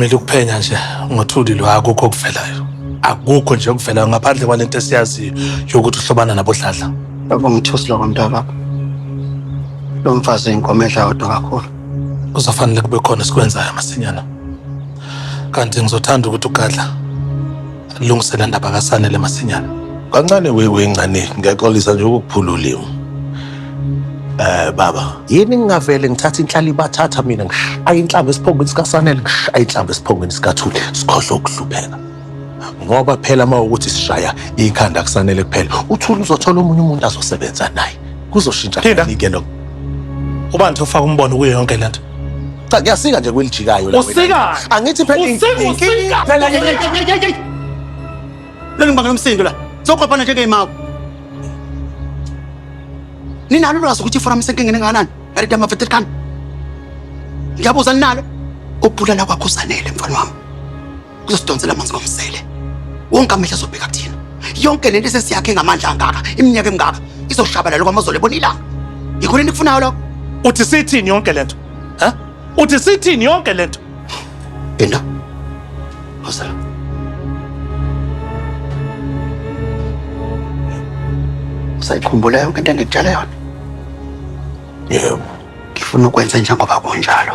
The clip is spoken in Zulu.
Kumele ukuphenya nje ngothuli lo akukho okuvelayo. Akukho nje okuvelayo ngaphandle kwalento esiyaziyo yokuthi uhlobana nabodladla. Baba ngithusi lokho mntaka. Lo mfazi inkomo edla yodwa kakhulu. Kuzofanele kube khona esikwenzayo masinyana. Kanti ngizothanda ukuthi ugadla Lilungisela ndaba kaSanele masinyane. Kancane wewe ingane, ngiyaxolisa nje ukukuphula ulimi. Eh baba, Yini ngingavele ngithatha inhlali ibathatha mina ngishaye inhlamba esiphongweni sikaSanele ngishaye inhlamba esiphongweni sikaThuli sikhohlwe ukuhlupheka. Ngoba phela uma ukuthi sishaya ikhanda kuSanele kuphela uThuli uzothola omunye umuntu azosebenza naye. Kuzoshintsha Linda. kanike lokho. Ubani ofaka umbono kuyo yonke lento? Cha kuyasika nje kwelijikayo la. Usika. Angithi phela inkinga. Phela yeyeyeyey. Lolu mbangela umsindo la. Soqophana nje ngeyimako. Ninalo lwazi ukuthi iforum isenkingeni engakanani? Yarida mafetekani. Ngiyabuza ninalo. Ukubulala kwakho usanele mfana wami. kuzodonsela amanzi ngomsele wonke amehla azobheka kuthina yonke lento esesiyakhe ngamandla angaka iminyaka emingaka izoshabalala kwamazolo ebona ilanga yikho lento ikufunayo lokho uthi sithini yonke lento ha uthi sithini yonke lento enda hosela usayikhumbula yonke into engikutshela yona yebo ngifuna ukwenza njengoba kunjalo